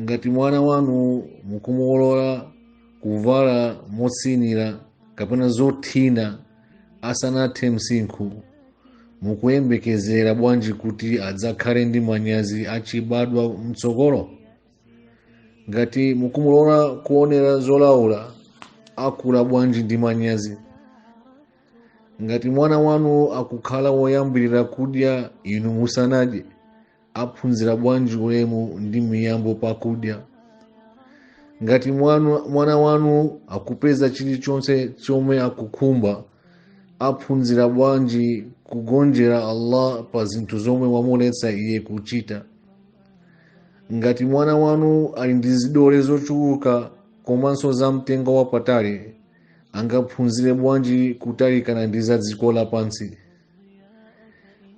ngati mwana wanu mukumulola kuvala motsinira kapena zothina asanathe msinkhu mukuyembekezera bwanji kuti adzakhale ndi manyazi achibadwa mtsogolo ngati mukumulola kuonera zolaula akula bwanji ndi manyazi ngati mwana wanu akukhala woyambirira kudya inu musanadye aphunzira bwanji ulemu ndi miyambo pakudya ngati mwana wanu akupeza chilichonse chomwe akukhumba aphunzira bwanji kugonjera allah pa zinthu zomwe wamuletsa iye kuchita ngati mwana wanu ali ndi zidole zochuluka komanso za mtengo wapatali angaphunzire bwanji kutalikana ndi za dziko lapansi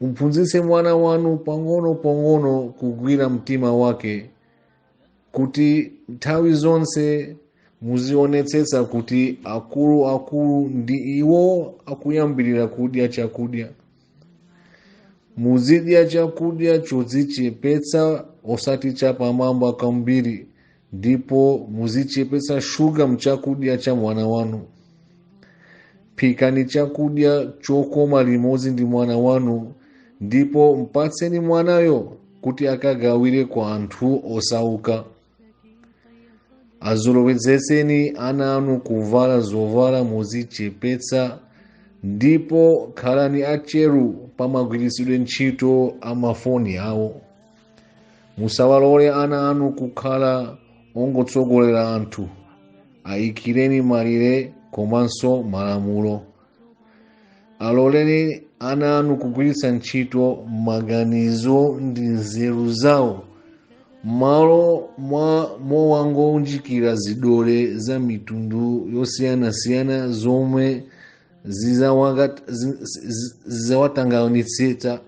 mphunzitse mwana wanu pang'ono pang'ono kugwira mtima wake kuti nthawi zonse muzionetsetsa kuti akulu akulu ndi iwo akuyambirira kudya chakudya muzidya chakudya chodzichepetsa osati chapamwamba kwambiri ndipo muzichepetsa shuga mchakudya cha mwana wanu phikani chakudya chokoma limodzi ndi mwana wanu ndipo mpatseni mwanayo kuti akagawire kwa anthu osauka azolowezetseni ana anu kuvala zovala modzichepetsa ndipo khalani atcheru pamagwiritsidwe ntchito a mafoni awo musawalole ana anu kukhala ongotsogolera anthu ayikireni malire komanso malamulo aloleni ana anu kugwiritsa ntchito maganizo ndi nzeru zawo mmalo mowangounjikira zidole za mitundu yosiyanasiyana zomwe zizawatanganitsitsa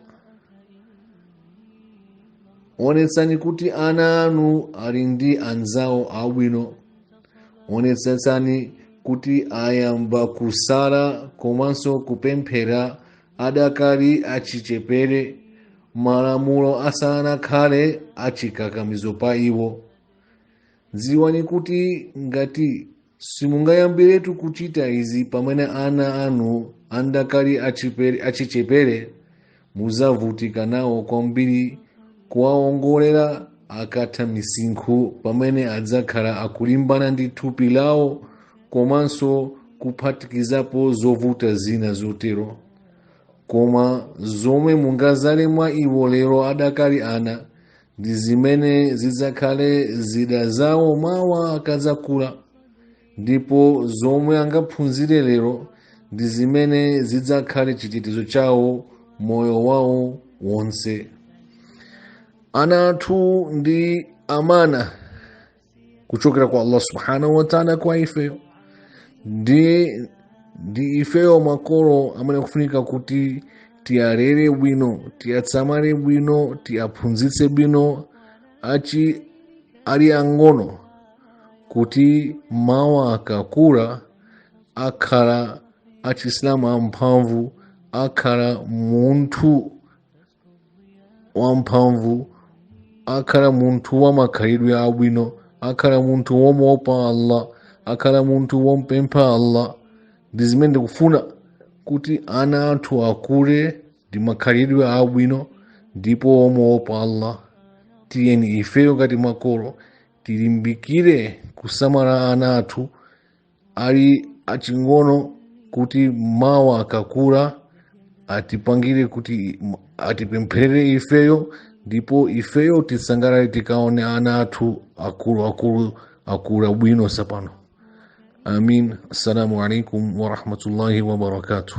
onetsani kuti ana anu ali ndi anzawo abwino onetsetsani kuti ayamba kusala komanso kupemphera adakali achichepere malamulo asanakhale achikakamizo pa iwo dziwani kuti ngati simungayambiretu kuchita izi pamene ana anu andakali achichepere mudzavutika nawo kwambiri kuwaongolera akatha misinkhu pamene adzakhala akulimbana ndi thupi lawo komanso kuphatikizapo zovuta zina zotero koma zomwe mungadzale mwa iwo lero adakali ana ndi zimene zidzakhale zida zawo mawa akadzakula ndipo zomwe angaphunzire lero ndi zimene zidzakhale chitetezo chawo moyo wawo wonse ana athu ndi amana kuchokera kwa allah subhanahu wataala kwa ifeyo ndi ifeyo makolo amene akufunika kuti tiwalere bwino tiwasamale bwino tiwaphunzitse bwino achi ali ang'ono kuti mawa akakula akhala asilamu amphamvu akhala munthu wamphamvu akhala munthu wa makhalidwe abwino akhala munthu womuopa allah akhala munthu wompempha allah ndi zimene ndikufuna kuti ana athu akule ndi makhalidwe abwino ndipo womuopa allah tiyeni ifeyo ngati makolo tilimbikire kusamala ana athu ali aching'ono kuti mawa akakula atipangire kuti atipempherere ifeyo ndipo ifeyo tisangalale tikaona ana athu akulu akulu akula bwino sapano amin assalamu alaikum warahmatullahi wabarakatuh